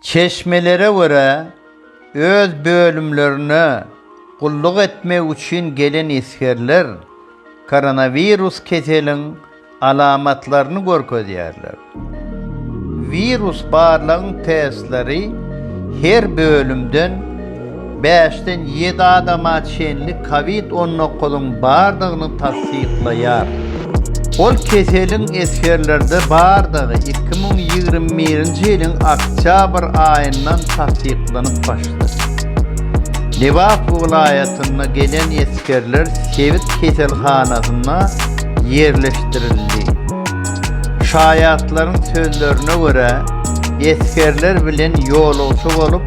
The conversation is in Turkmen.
Çeşmelere görä, öz bölümlerine gulluk etmek üçin gelen esgerler koronawirus keseliň alamatlaryny görkezýärler. Wirus barlagyň testleri her bölümden Bäşden ýedi adama çenli covid on dokuzyň bardygyny tassyklaýar. Ol keseliň esgerlerde bardygy iki müň ýigrimi birinji ýylyň oktýabr aýyndan tassyklanyp başlady. Lebap welaýatynda gelen esgerler sebit keselhanasyna ýerleşdirildi. Şaýatlaryň sözlerine görä, esgerler bilen ýolagçy bolup,